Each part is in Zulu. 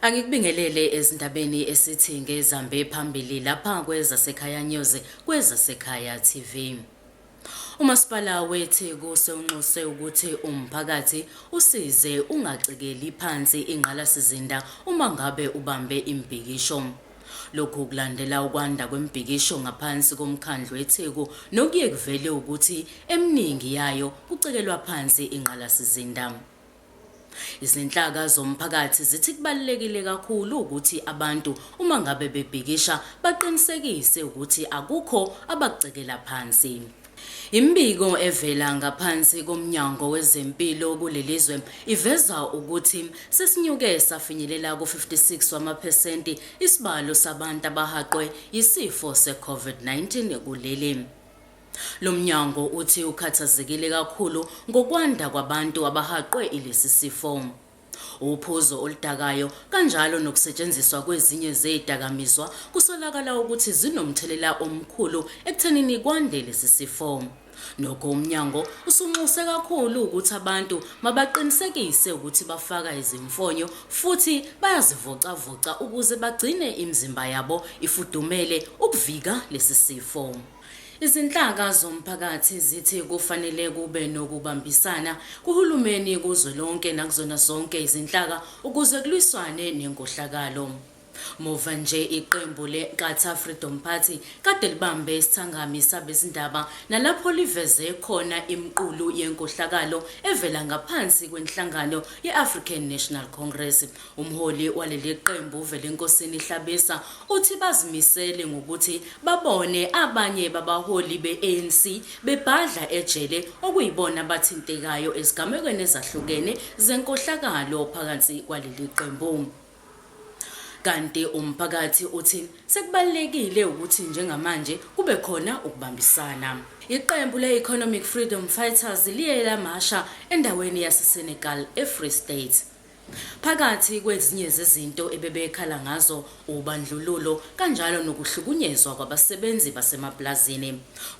Angikubingelele ezindabeni esithi ngezambe phambili lapha kwezasekhaya news kwezasekhaya TV. UMasipala weTheku sewunxuse ukuthi umphakathi usize ungacekeli phansi ingqalasizinda uma ngabe ubambe imibhikisho. Lokhu kulandela ukwanda kwemibhikisho ngaphansi koMkhandlu weTheku nokuye kuvele ukuthi eminingi yayo kucekelwa phansi ingqalasizinda. Izinhlaka zomphakathi zithi kubalulekile kakhulu ukuthi abantu uma ngabe bebhikisha baqinisekise ukuthi akukho abakucekela phansi. Imibiko evela ngaphansi koMnyango wezeMpilo kuleli zwe iveza ukuthi sesinyuke safinyelela ku-56 wamaphesenti isibalo sabantu abahaqwe yisifo se-COVID-19 kuleli. Lo mnyango uthi ukhathazekile kakhulu ngokwanda kwabantu abahaqwe ilesi sifo. Uphuzo oludakayo kanjalo nokusetshenziswa kwezinye zezidakamizwa kusolakala ukuthi zinomthelela omkhulu ekuthenini kwande lesi sifo. Nokho umnyango usunxuse kakhulu ukuthi abantu mabaqinisekise ukuthi bafaka izimfonyo futhi bayazivocavoca ukuze bagcine imizimba yabo ifudumele ukuvika lesi sifo. Izinhlaka zomphakathi zithi kufanele kube nokubambisana kuhulumeni kuzwelonke nakuzona zonke izinhlaka ukuze kulwiswane nenkohlakalo. Muva nje iqembu le-Nkatha Freedom Party kade libambe isithangami sabezindaba nalapho liveze khona imiqulu yenkohlakalo evela ngaphansi kwenhlangano ye-African National Congress Umholi waleli qembu uVelenkosini Hlabisa uthi bazimisele ngokuthi babone abanye babaholi be-ANC bebhadla ejele okuyibona abathintekayo ezigamekweni ezahlukene zenkohlakalo phakathi kwaleli qembu. Kanti umphakathi uthi sekubalulekile ukuthi njengamanje kube khona ukubambisana. Iqembu le-Economic Freedom Fighters liye lamasha endaweni yaseSenegal eFree State. Phakathi kwezinye zezinto ebebekhala ngazo ubandlululo kanjalo nokuhlukunyezwa kwabasebenzi basemapulazini.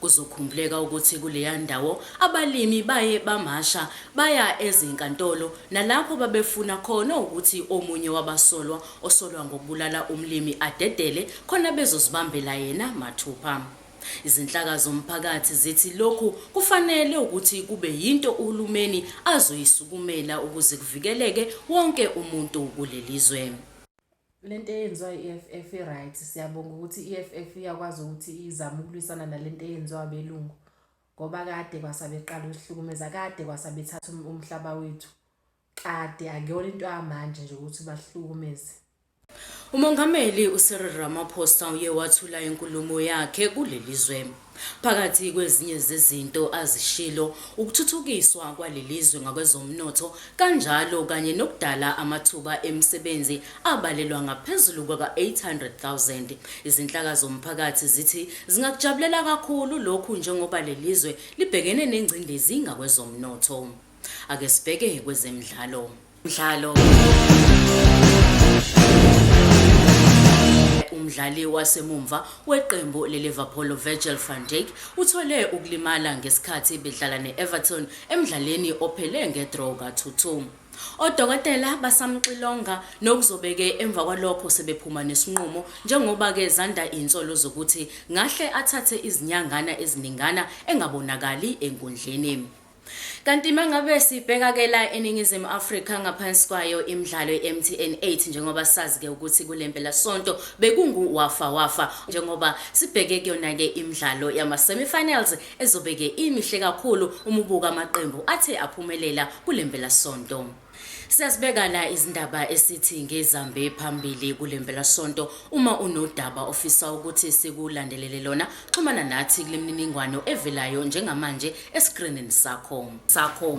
Kuzokhumbuleka ukuthi kuleya ndawo abalimi baye bamasha baya ezinkantolo nalapho babefuna khona ukuthi omunye wabasolwa osolwa ngokubulala umlimi adedele khona bezozibambela yena mathupha. Izinhlaka zomphakathi zithi lokhu kufanele ukuthi kube yinto uhulumeni azoyisukumela ukuze kuvikeleke wonke umuntu kuleli zwe. Lento eyenziwa i-EFF i-right siyabonga ukuthi i-EFF iyakwazi ukuthi izame ukulwisana nalento eyenziwa abelungu ngoba kade kwasabeqala usihlukumeza kade kwasabethatha um-, umhlaba wethu Kade akuyona into yamanje nje ukuthi bahlukumeze. UMongameli uCyril Ramaphosa uye wathula inkulumo yakhe kuleli zwe. Phakathi kwezinye zezinto azishilo ukuthuthukiswa kwaleli zwe ngakwezomnotho kanjalo kanye nokudala amathuba emisebenzi abalelwa ngaphezulu kwaka-800,000. Izinhlaka zomphakathi zithi zingakujabulela kakhulu lokhu njengoba leli zwe libhekene nengcindezi ngakwezomnotho. Ake sibheke kwezemidlalo. Mdlalo umdlali wasemumva weqembu le-Liverpool Virgil van Dijk uthole ukulimala ngesikhathi bedlala ne-Everton emdlaleni ophele ngedraw ka-2-2. Odokotela basamxilonga nokuzobeke emva kwalokho sebephuma nesinqumo njengoba ke zanda insolo zokuthi ngahle athathe izinyangana eziningana engabonakali enkundleni. Kanti mangabe sibheka ke la eningizimu Afrika ngaphansi kwayo imidlalo yeMTN 8 njengoba sazi ke ukuthi kulempela sonto bekungu wafa wafa njengoba sibheke kuyona ke imidlalo yama semifinals ezobeke imihle kakhulu umubuka amaqembu athe aphumelela kulempela sonto. Siyasibeka la izindaba esithi ngezambe phambili kule mpelasonto. Uma unodaba ofisa ukuthi sikulandelele lona, xhumana nathi kule mininingwano evelayo njengamanje esikrinini sakho. sakho.